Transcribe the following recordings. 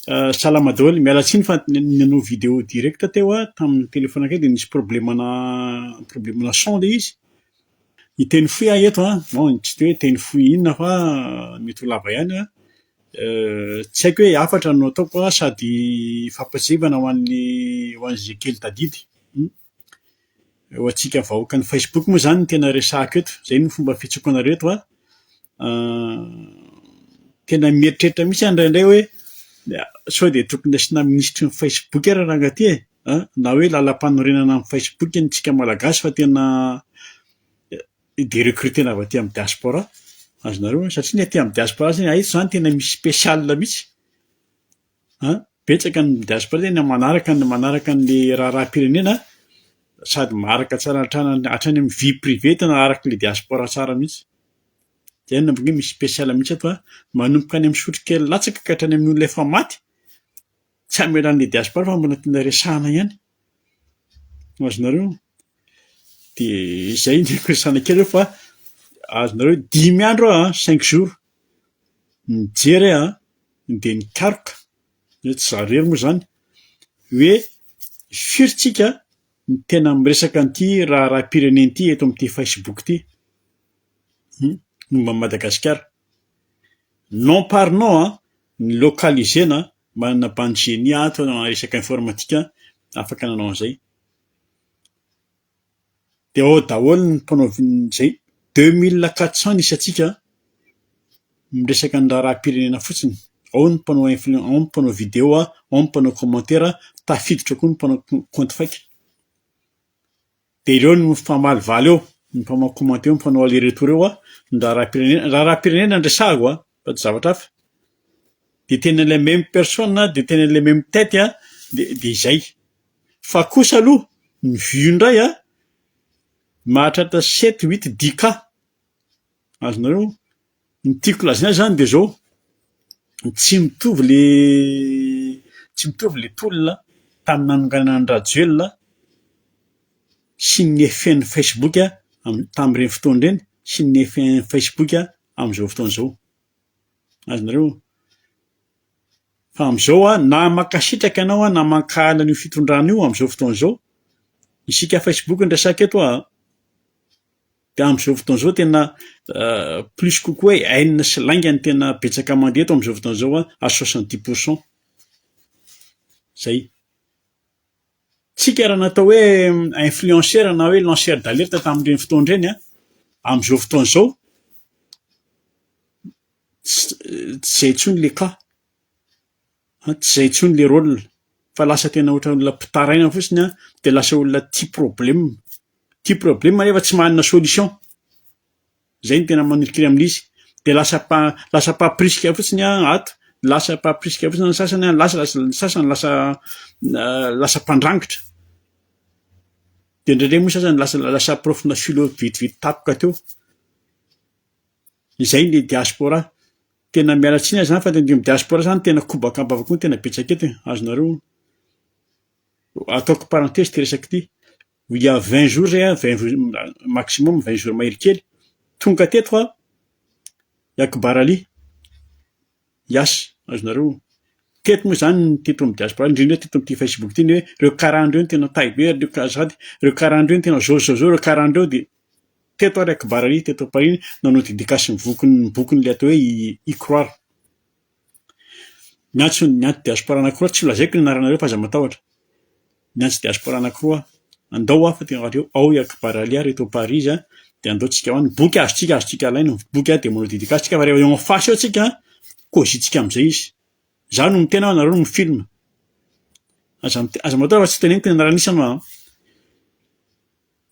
Salama daholo, miala tsiny fa nanao vidéo direct teo aho tamin'ny téléphone akay dia nisy problème-na problème-na son ilay izy, hiteny fohy aho eto an, bon tsy dia hoe teny fohy inona fa mety ho lava ihany an, tsy haiko hoe hafatra no ataoko sa sady fampatsiahivana ho an'ny ho an'izay kely tadidy. Ho antsika vahoakan'ny Facebook moa izany no tena resahiko eto, izay no fomba fihetseko anareo eto an! Tena mieritreritra mihitsy aho indraindray hoe sao dia tokony asiana minisitry ny Facebook ary ranga ty e! na hoe lalampanorenana ny Facebook ny antsika Malagasy fa tena de-recruter-na avy aty amin'ny diaspora, azonareo an! satria ny aty amin'ny diaspora izany tena misy special mihitsy. An! Betsaka ny diaspora tena manaraka ny manaraka ny raharaham-pirenena sady maharaka tsara hatrany hatrany amin'ny vie privée tena araky ny diaspora tsara mihitsy. Dia inona moa no misy special mihitsy eto an! Manomboka any amin'ny sotrokely latsaka ka hatrany amin'ny olona efa maty, tsy hamelan'ny diaspora fa mbola tena resahana ihany. Ho azonareo? Dia izay ny firesahana kely eo fa azonareo dimy andro aho an, cinq jours, nijery aho an, dia nikaroka, hoe tsy izaho irery moa izany, hoe firy tsika no tena miresaka an'ity raharaham-pirenena ity eto amin'ity Facebook ity? momba an'i Madagasikara. Non par non an, ny localiser-na manana bande génie ato na resaka informatika afaka nanao an'izay dia ao daholo ny mpanao izay deux mille quatre cent ny isantsika an, miresaka ny raharaham-pirenena fotsiny, ao ny mpanao influence, ao ny mpanao video, ao ny mpanao commentaire, tafiditra koa ny mpanao compte fake. Dia ireo no mpamalivaly eo, ny mpanao commentaire eo, mpanao aller retour eo an, ny raharaham-pirenena, raharaham-pirenena no resahako an, fa tsy zavatra hafa. Dia tena ilay même personne an, dia tena ilay même tête an, dia dia izay. Fa kosa aloha ny vue indray an, mahatratra sept, huit, dix cas. Azonareo? Ny tiako lazaina azy zany de zao, tsy mitovy le tsy mitovy le tolona tamin'ny nanonganana an'i Rajoelina sy ny effet-n'ny Facebook am- tamin'ireny fotoana ireny sy ny effet-n'ny Facebook amin'izao fotoana izao. Azonareo? Fa amin'izao aho na mankasitraka ianao aho na mankahala an'io fitondrana io amin'izao fotoana izao, isika Facebook no resaka eto a! Dia amin'izao fotoana izao tena plus kokoa hoe haine sy lainga no tena betsaka mandeha eto amin'izao fotoana izao à soixante dix pour cent. Zay. Tsika raha natao hoe influenceur na hoe lanceur d'alerte tamin'ireny fotoana ireny an, amin'izao fotoana izao tsy zay intsony le cas. an, tsy izay intsony le rôle fa lasa tena ohatran'ny olona mpitaraina fotsiny an, dia lasa olona tia problème, tia problème nefa tsy manana solution, zay no tena manirikiry aminy izy, dia lasa mpa lasa mpaprisika fotsiny an ato, lasa mpaprisika fotsiny ny sasany an, lasa lasa ny sasany lasa lasa mpandrangitra, dia indraindray moa ny sasany lasa lasa profona philo vetivety tampoka teo, izay ny diaspora. Tena miala tsiny aza zany fa tendremo diaspora zany tena kobaka ambava koa tena betsaka eto e, azonareo ataoko parenthèse ity resaka ity, il y a vingt jours zay an, vingt jours maximum vingt jours mahery kely, tonga teto an, i Akbar Ali, yas, azonareo honina, teto moa zany ny teto amin'ny diaspora indrindra teto amin'ity facebook ity ny hoe reo karana reo no tena taille be, reo kara- azafady, reo karana reo no tena zaozao zaozao, reo karana reo dia. Teto ary Akbar ary teto Paris nanao dedicace ny vokiny ny bokiny le atao hoe y croire. Ny antso ny antso diaspora anankiroa tsy lazaiko ny anaranareo fa aza matahotra. Ny antso diaspora anankiroa andao aho fa tena ary ao i Akbar Ali ary eto Paris dia andao tsika ao ny boky azontsika azontsika alaina ny boky dia manao dedicace tsika fa rehefa eo en face eo tsika cosy tsika amizay izy. Za no miteny fa nareo no mi-film. Aza aza matahotra fa tsy teneniko ny anaran'isany fa.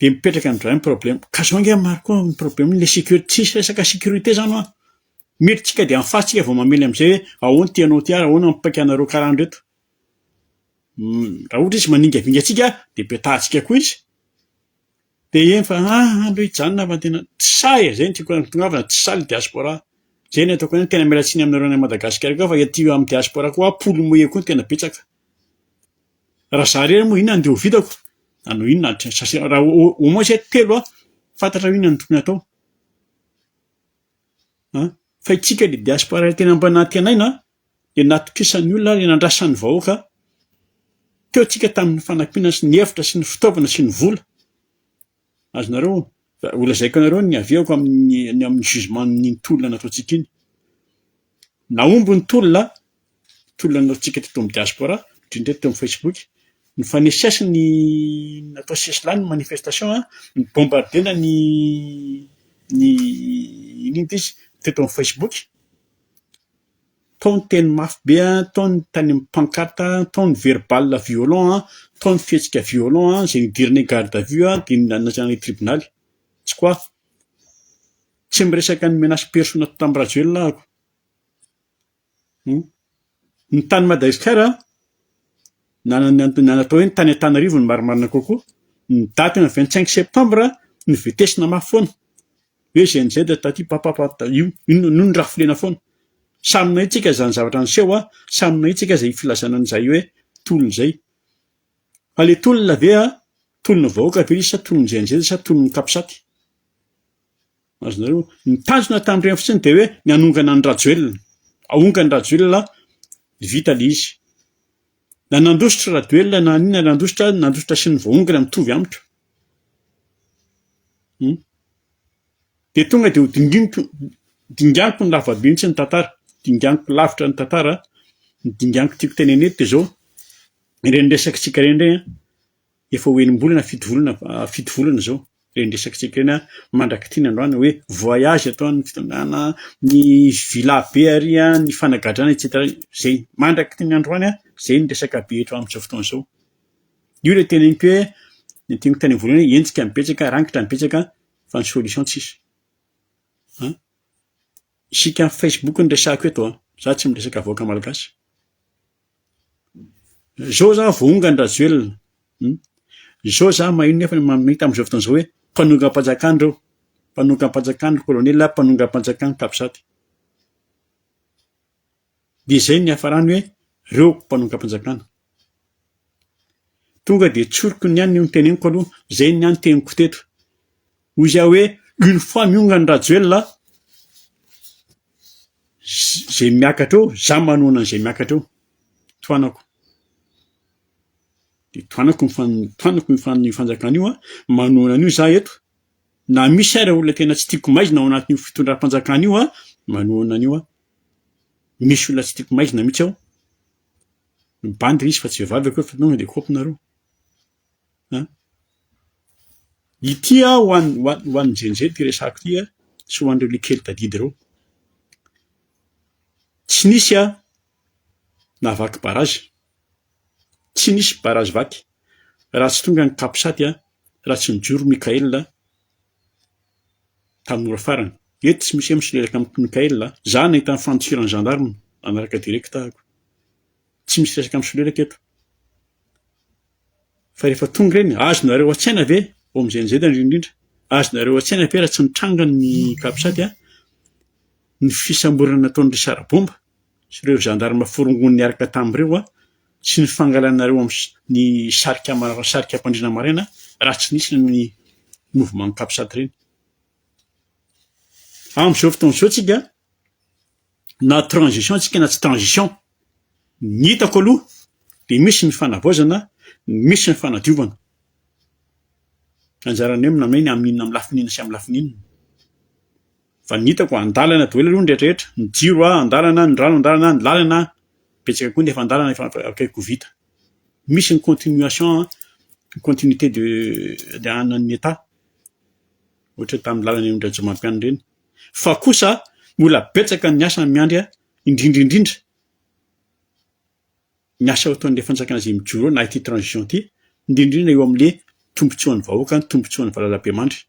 Dia mipetraka indray ny problème. Ka zao ange Marco ny problème ny le sécurité tsisy resaka sécurité zany hoa. Miditra tsika dia en face tsika vao mamely amizay hoe ahoana ity anao ity ary ahoana ny mipaika anareo karaha an'ireto. Raha ohatra izy maningavinga antsika dia petahantsika koa izy. Dia eny fa ah aleo hijanona fa tena tsy sahy e, zay no tiako hampitongavana tsy sahy le diaspora. Zay no ataoko hoe tena miala tsiny aminareo any Madagascar koa fa ety amin'ny diaspora koa hoa poule mouillée koa no tena betsaka. Raha za irery moa inona no dia ho vitako? Na hanao inona ary tsy sasana. Raha au moins izahay telo an! Fantatrao inona no tokony hatao an! Fa isika dia diaspora iray tena mba nantenaina an! Dia natokisan'ny olona ary nandrasan'ny vahoaka an! Teo isika tamin'ny fanampiana sy ny efitra sy ny fitaovana sy ny vola. Azonareo, fa ho lazaiko anareo ny haviako amin'ny ny amin'ny jugementn'iny tolona nataontsika iny. Nahomby ny tolona, tolona nataontsika teto amin'ny diaspora, indrindra eto teo amin'ny Facebook, ny faneses ny natao sesilany ny manifestation a, ny bombardena ny ny iny inty izy, teto amin'ny Facebook, tao ny teny mafy be an, tao ny tany amin'ny pancarte an, tao ny verbal violent an, tao ny fihetsika violent an, izay nidiran'ny garde à vue an, dia nanasana ilay tribonaly, tsy quoi. Tsy miresaka ny menace perso natao tamin'i Rajoelina aho ako. Humm. Ny tany Madagasikara na na na na natao hoe ny tany Antananarivo no marimarina kokoa, ny daty ny vingt cinq septembre novetesina mafy foana. Hoe GNZ taty papapap io inona no nirafilena foana. Samy nahay tsika izany zavatra niseho a, samy nahay tsika izay filazana an'izay hoe tolona izay. Fa le tolona ve a, tolon'ny vahoaka ve izy sa tolon'ny GNZ sa tolon'ny capsat. Azonareo? Ny tanjona tamin'ireny fotsiny dia hoe ny hanongana an'i Rajoelina. Ahonga an'i Rajoelina dia vita le izy. Na nandositra Radoelina na an'inona nandositra, nandositra sy ny voahongana mitovy amiko. Dia tonga dia ho dinginiko dinganiko ny lavabe mihitsy ny tantara, dinganiko lavitra ny tantara, ny dinganiko tiako tenenina eto dia izao, ireny resakantsika ireny indray an, efa ho enim-bolana fito volana fito volana izao ireny resakantsika ireny an, mandrak'ity ny androany hoe voyage eto an, ny fitondrana, ny villa be ary an, ny fanagadrana etsetra, izay mandrak'ity ny androany an, izay ny resaka be eto amin'izao fotoana izao. Io ilay teneniko hoe ny teniko tany voalohany hoe hetsika betsaka, rangitra ny betsaka fa ny solution tsisy. An! Isika amin'ny facebook no resahiko eto an! Za tsy miresaka vahoaka malagasy. Zao za voahonga an'i Rajoelina, hum, zao za maheno nefa mamita amin'izao fotoana izao hoe mpanongam-panjakana reo, mpanongam-panjakana ry kolonely, mpanongam-panjakana capsat. Dia izay no niafarany hoe reo mpanongam-panjakana. Tonga dia tsoriko ny an ny noteneniko aloha, izay ny an teniko teto. Hoy zah hoe une fois miongany Rajoelina, zay miakatra eo, zah manohana an'izay miakatra eo. Tohanako. Dia tohanako ny fan, tohanako ny fan, ny fanjakana io, manohana an'io zah eto. Na misy ary olona tena tsy tiako maizina ao anatin'io fitondram-panjakana io, manohana an'io aho. Misy olona tsy tiako maizina mihitsy ao. Mibandy ilay izy fa tsy vehivavy akory fa tonga dia kaopy nareo. An! Ity aho ho an'ny ho an'ny jenjely ity resako ity sy ho an'ireo likely tadidy ireo. Tsy nisy aho nahavaky barazy, tsy nisy barazy vaky raha tsy tonga ny capsat, raha tsy nijoro Mickaël, tamin'ny ora farany. Eto tsy misy MC niaraka amin'i Mickaël a! Za nahita ny fandifiran'ny gendarmes nanaraka direct aho. Tsy misy resaka misolelaka eto. Fa rehefa tonga ireny, azonareo an-tsaina ve, OMGNZ indrindra indrindra, azonareo an-tsaina ve raha tsy nitranga ny Capsat a, ny fisamborana nataon'ireo sarabomba? sy ireo gendarmes forongony niaraka tamin'ireo sy ny fangalanareo amin'ny sarika ampandriana maraina raha tsy nisy ny mouvement capsat ireny. Amin'izao fotoana izao tsika na transition tsika na tsy transition ny hitako aloha dia misy ny fanavaozana misy ny fanadiovana anjaranay amin'inona amin'ny lafiny inona sy amin'ny lafiny inona. Fa ny hitako andalana doely aloha ny rehetrarehetra, ny jiro a andalana, ny rano andalana, ny lalana betsaka koa ny efa andalana efa akaiky ho vita. Misy ny continuation an, ny continuité de de an'ny Etat, ohatra tamin'ny lalana eny Rajomampianina ireny. Fa kosa mbola betsaka ny asa miandry ahy indrindra indrindra. ny asa ataon'ilay fanjakana izay mijoro eo na ity transition ity, indrindrindra eo amin'ilay tombontsoan'ny vahoaka, ny tombontsoan'ny valalabemandry.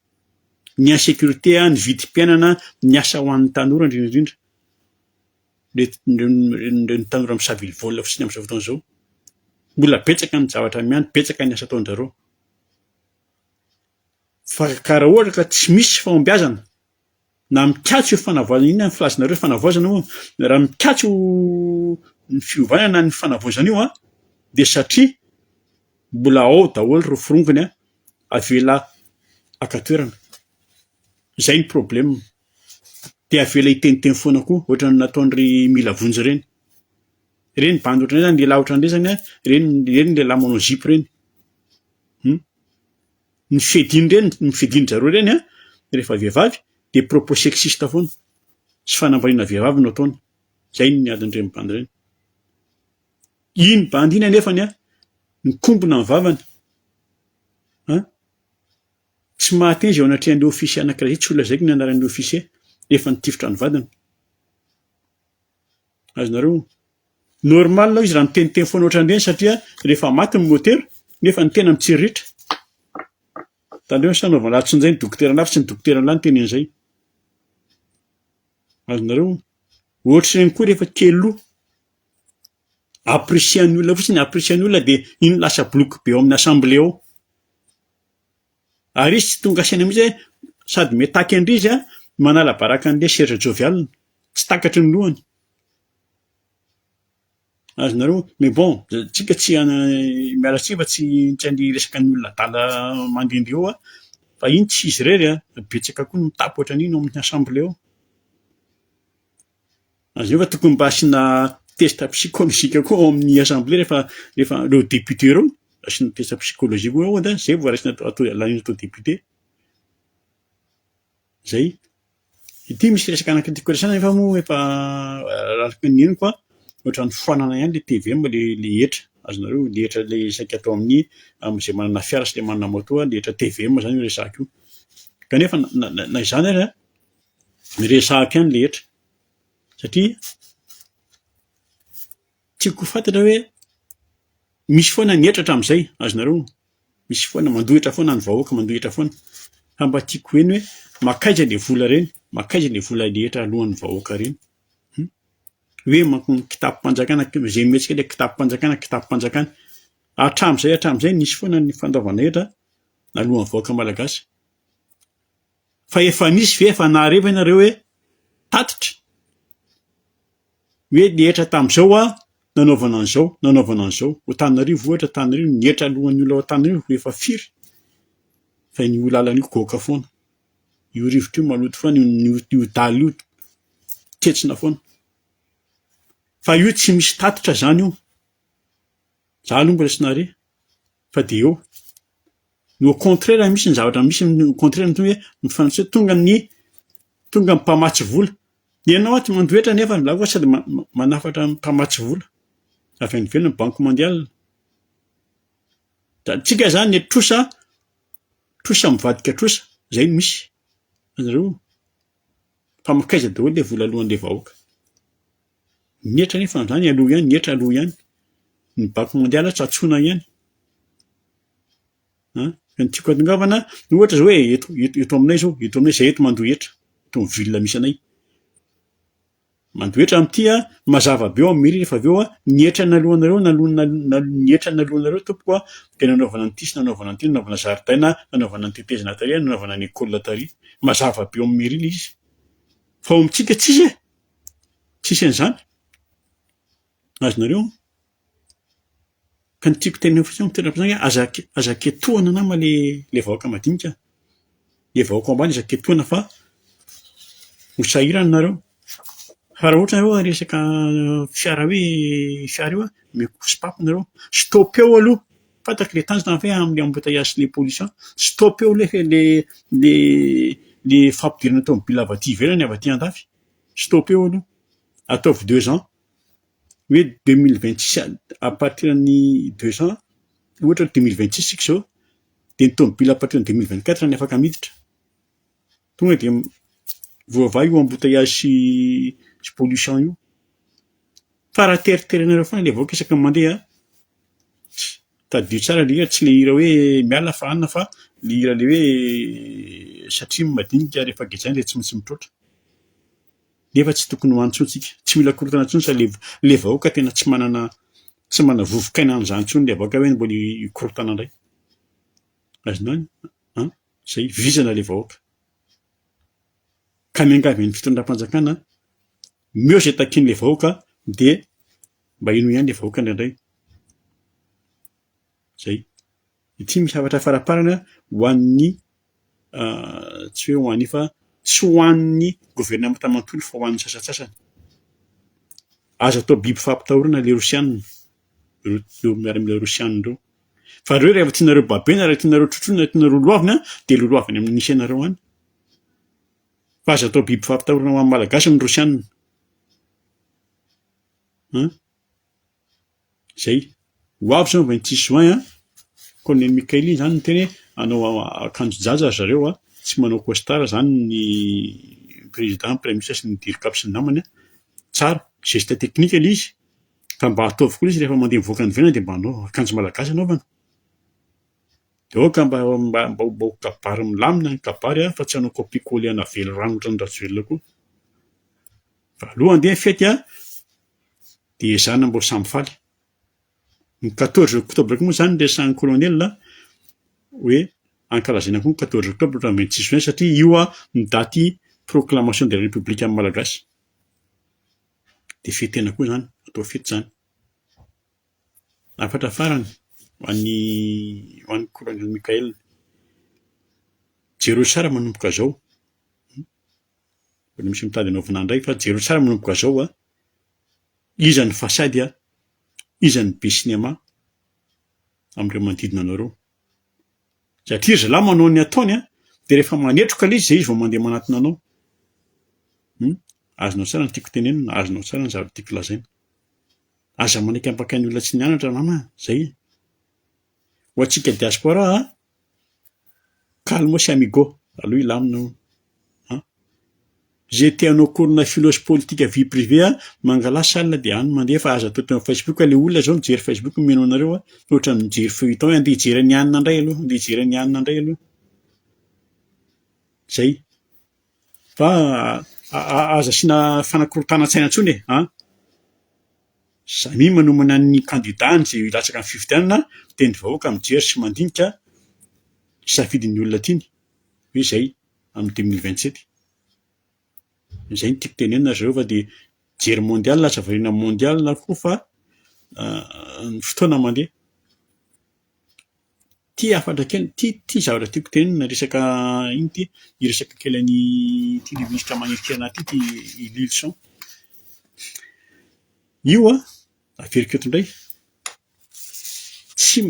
Ny insécurité, ny vidim-piainana, ny asa ho an'ny tanora indrindrindrindra. Ireny tanora misavily vola fotsiny amin'izao fotoana izao. Mbola betsaka ny zavatra miany, betsaka ny asa ataon-dry zareo. Fa ka raha ohatra ka tsy misy fahombiazana na mikatso io fanavaozana, inona ny filazanareo fanavaozana hono? raha mikatso ny fiovana na ny fanavaozana io an, dia satria mbola ao daholo ireo forongony an, avela haka toerana, izay ny problème, dia avela hiteniteny foana koa ohatran'ny nataon'ireny mila vonjy ireny, ireny bandy ohatran'izay zany, lehilahy ohatran'ireny zany an, ireny ireny lehilahy manao zipo ireny, um. Ny fediny ireny, ny fedin zareo ireny an, rehefa vehivavy dia propos sexiste foana sy fanambaniana vehivavy no ataony, izay ny adin ireny bandy ireny. Iny bandy iny anefany an, mikombona ny vavany an, tsy mahateny izay eo anatrehan'ny ofisier anakiray izay, tsy ho lazaiko ny anaran'ny ofisier, efa nitifitra ny vadiny. Azonareo? Normal hoy izy raha miteniteny foana ohatran'ireny satria rehefa maty ny motera nefa ny tena mitsiriritra. Tandremo sa anaovana lahatry ny izay ny dokotera lahy fa tsy ny dokotera lahy niteny an'izay. Azonareo? Ohatr'ireny koa rehefa kely loha. Apprécier ny olona fotsiny, apprécier ny olona dia iny lasa bloky be ao amin'ny assemblée ao. Ary izy tsy tonga saina mihitsy hoe sady mitaky an-drizy an, manala baraka an'i lesy ry jovialina. Tsy takatry ny lohany. Azonareo, mais bon, tsika tsy miala tsiny fa tsy tsy handiresaka ny olona adala mandende eo an, fa iny tsy izy irery an, betsaka koa ny mitaky ohatran'iny ao amin'ny assemblée ao. Ary zay vao tokony mba asiana test psychologique koa ao amin'ny assemblée rehefa rehefa ireo député ireo, asiana test psychologique koa ao an-dahiny, zay vao raisina atao laniana atao député. Zay. Ity misy resaka anaky tiako resahana nefa moa efa araka ny henoko an, ohatran'ny foanana ihany le tvm le le hetra, azonareo le hetra le saika atao amin'ny amin'izay manana fiara sy le manana moto le hetra tvm zany io resahako io. Kanefa na na na izany ary an, Miresahako ihany rehetra satria tiako ho fantatra hoe misy foana ny hetra hatramin'izay, azonareo? Misy foana, mandohitra foana ny vahoaka, mandohitra foana fa mba tiako ho heno hoe mankaiza le vola reny, mankaiza le vola rehetra aloan'ny vahoaka reny? Hum! Hoe manko ny kitapom-panjakana, izay mihetsika le kitapom-panjakana, kitapom-panjakana. Hatramin'izay hatramin'izay nisy foana ny fandoavana hetra aloan'ny vahoaka malagasy. Fa efa misy ve efa nahare ve nareo hoe tatitra hoe nihetra tamin'izao aho nanaovana an'izao nanaovana an'izao ao Antananarivo ohatra Antananarivo nihetra alohan'ny olona ao Antananarivo ho efa firy fa io lalana io goaka foana io rivotra io maloto foana io io dala io ketsona foana fa io tsy misy tatitra zany io za aloha mbola tsy nahare Fa dia eo no au contraire misy ny zavatra misy ny au contraire ny hoe ny frantsay tonga ny tonga ny mpamatsy vola. Ny anao ato mandoetra nefa ny za koa sady ma- ma- manafatra ny mpamatsy vola avy any ivelany banque mondiale. Da antsika zany ny trosa trosa mivadika trosa zay no misy. Anareo fa makaiza daholo le vola alohan'le vahoaka. Ny hetra anefa andany aloha ihany, ny hetra aloha ihany, ny bako mondialy aho tsatsona ihany an! Fa ny tiako atongavana ohatra zao hoe eto eto aminay zao, eto aminay zay eto mandoa hetra, eto amin'ny ville misy anay, mandoa hetra amin'ity an, mazava be ao amin'ny mairie rehefa avy eo an, ny hetra naloanareo naloana ny hetra naloanareo tompoko an, dia nanaovana an'ity sy nanaovana an'ity, nanaovana zaridaina, nanaovana ny tetezana tary, nanaovana ny école tary, mazava be ao amin'ny mairie le izy, fa ao amintsika tsisy e! tsisy an'izany, azonareo? Ka ny tiako tenenina fotsiny amin'ny toeram-piasana hoe aza aza ketohina nama le le vahoaka madinika, le vahoaka ao ambany aza ketohina fa ho sahirana nareo, fa raha ohatra nareo resaka fiara hoe fiara io an, omeko sopapo nareo, stop eo aloha. Fantatra ilay tanjona ve amin'ny embouteillage sy ilay pollution? Stopper eo lefa ilay ilay fampidirana tomobila avy aty ivelany avy aty andafy. Stopper eo aloha. Ataovy deux ans. Hoe deux mille vingt six à partir ny deux ans ohatra hoe deux mille vingt six isika izao dia ny tomobila à partir ny deux mille vingt quatre no afaka miditra. Tonga dia voavaha io embouteillage sy sy pollution io. Fa raha teriterenareo foana ilay vahoaka isaky ny mandeha an, tadidio tsara ilay hira, tsy ilay hira hoe miala fa hanina fa ilay hira ilay hoe satria ny madinika rehefa gejaina dia tsy maintsy mitroatra. Nefa tsy tokony ho any intsony isika. Tsy mila korontana intsony izany ilay ilay vahoaka tena tsy manana tsy manana vovok'aina an'izany intsony ilay vahoaka hoe mbola hikorontana indray. Azonao an? izay vizana ilay vahoaka. Ka miangavy ny fitondram-panjakana omeo izay takian'ilay vahoaka dia mba henoy ihany ilay vahoaka indraindray. Izay. Ity misy hafatra faraparany ho an'ny ah, tsy hoe ho an'ny fa tsy ho an'ny governemanta manontolo fa ho an'ny sasantsasany. Aza atao biby fampitahorana ilay Rosianina, ireo miaramila Rosianina ireo. Fa reo rehefa tianareo babena raha tianareo trotroina raha tianareo loavina dia loloava any amin'ny misy anareo any. Fa aza atao biby fampitahorana ho an'ny malagasy ny rosianina. An? Zay. Ho avy zao vingt six juin an. Colonel Mikael iny zany niteny anao akanjo jaja ry zareo an, tsy manao costard zany ny président, prime ministre sy ny dircap sy ny namany an. Tsara, geste technique le izy. Ka mba ataovy koa lesy rehefa mandeha mivoaka any ivelany dia mba anao akanjo malagasy anaovana. Dia aoka mba mba mba ho kabary milamina ny kabary fa tsy hanao copie coller ana velirano ohatran'i Rajoelina koa. Fa aloha andeha ny fety an! Dia ezahina mba ho samy faly. Ny quatorze octobre koa moa izany resahin'ny colonel hoe ankalazaina koa ny quatorze octobre ohatran'ny vingt six juin satria io an no daty proclamation de la république an'ny Malagasy. Dia fety tena koa izany, atao fety izany. Hafatra farany ho an'ny ho an'ny Kolonely Mickael. Jereo tsara manomboka izao, mbola misy mitady hanaovana indray fa jereo tsara manomboka izao an, iza ny fasady an, iza ny be sinema amin'ireo manodidina anareo. Satria zalahy manao ny ataony an! Dia rehefa manetroka ilay izy dia izy vao mandeha manatona anao. Hum! Azonao tsara ny tiako tenenina, azonao tsara ny zavatra tiako lazaina. Aza manaiky hampaka ny olona tsy nianatra nama a! Zay e! Ho antsika diaspora an! Calmos amigo! Aleo hilamina hono! An! Ze tianao korona filos politika vie privée a, mangala salle de any mandeha fa aza atota eo am facebook a, le olona zao mijery facebook mino anareo a, fa otrany mijery feuilleton e, andeha hijery an'i anona ndray aloha, andeha hijery an'i anona ndray aloha, zay, fa aza asiana fanakorontanan-tsaina tsony e, an, za mi manomana ny kandida any ze hilatsaka am fifidianana, miteny vahoaka mijery sy mandinika ny safidin'ny olona tiany, hoe zay. amin'ny deux mille vingt sept. Izay no tiako tenenina ry zareo fa dia jery mondial lasa variana amin'ny mondial koa fa ny fotoana mandeha. Ity hafatra kely, ity ity zavatra tiako tenenina resaka inona ity hiresaka kely an'ity minisitra manelinkelinà ity ity i Lylison. Io an, averiko eto indray, tsy,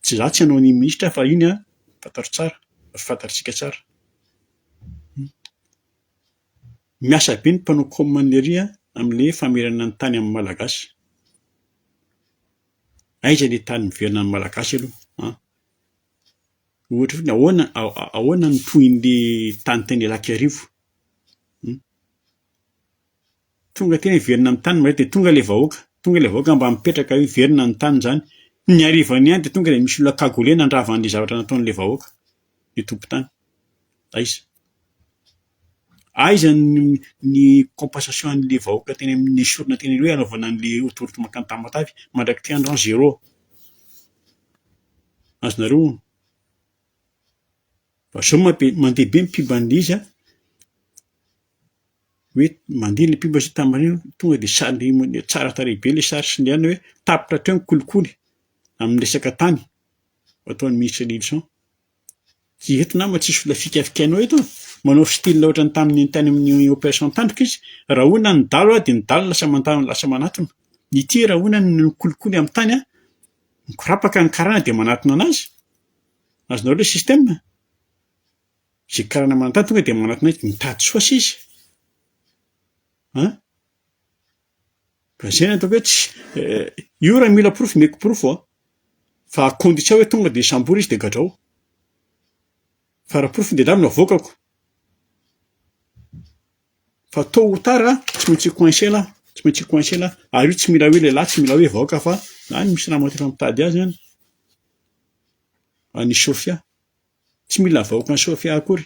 Tsy za tsy hanao ny minisitra fa iny an, fantatro tsara, ary fantatritsika tsara. Miasa be ny mpanao com anle ry an, amle famerana ny tany amin'ny malagasy. Aiza le tany miverina amin'ny malagasy aloha an? Ohatra fotsiny ahoana ahoana no tohinle tany tany Ilakarivo? Tonga aty hiverina ny tany dia tonga ilay vahoaka, tonga ilay vahoaka mba mipetraka eo hiverina ny tany izany. Ny harivany ihany dia tonga dia misy olona cagoulé nandrava an'ilay zavatra nataon'ilay vahoaka ny tompon-tany. Aiza? Aiza ny compensation an'ilay vahoaka teny amin'ny nesorina teny aloha hanaovana an'ilay autoroute mankany Tamatave? Mandrak'ity andro izany zéro. Azonareo onona? Fa izao mandeha be ny mpibandy izy an! hoe mandeha ilay mpimba satria tamin'ireny tonga dia sary tsara tarehy be ilay sary sendranana hoe tapitra hatreo ny kolikoly amin'ny resaka tany ataon'ny ministre Nilson. Tsy eto nama tsisy olona fikafikainao eto an! manao style ohatran'ny tamin'ny tany amin'ny operation tandroka izy, rahona ny dalo dia ny dalo lasa mandalo lasa manatona, ity rahona ny kolikoly amin'ny tany an! mikorapaka ny karana dia manatona an'azy, azonareo ilay système? Izay karana manan-tany tonga dia manatona ahy mitady soa sisa an! Ka izay no ataoko hoe tsy io raha mila porofo omeko porofo an! Fa à condition hoe tonga dia hisambory izy dia gadrao. Fa raha porofo dia lavina avoakako. Fa tot ou tard an, tsy maintsy hi-coincer lah, tsy maintsy hi-coincer lah. Ary io tsy mila hoe lehilahy, tsy mila hoe vahoaka fa na ny misy ramatoa efa mitady azy an! Any Sofia. Tsy mila avahoakan'i Sofia akory.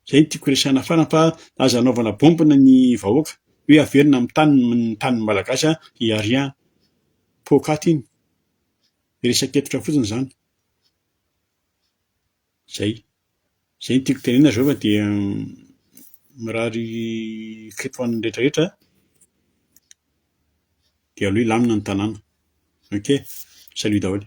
Zay no tiako resahana farany fa aza anaovana bombe ny vahoaka hoe averina amin'ny taniny ny tanin'ny malagasy an, il y a rien. Poakaty iny. Resak'hevitra fotsiny zany. Zay. Izay no tiako tenenina zao fa dia mirary fety ho an'ny rehetra rehetra dia aleo hilamina ny tanàna. Ok! Salut daholo.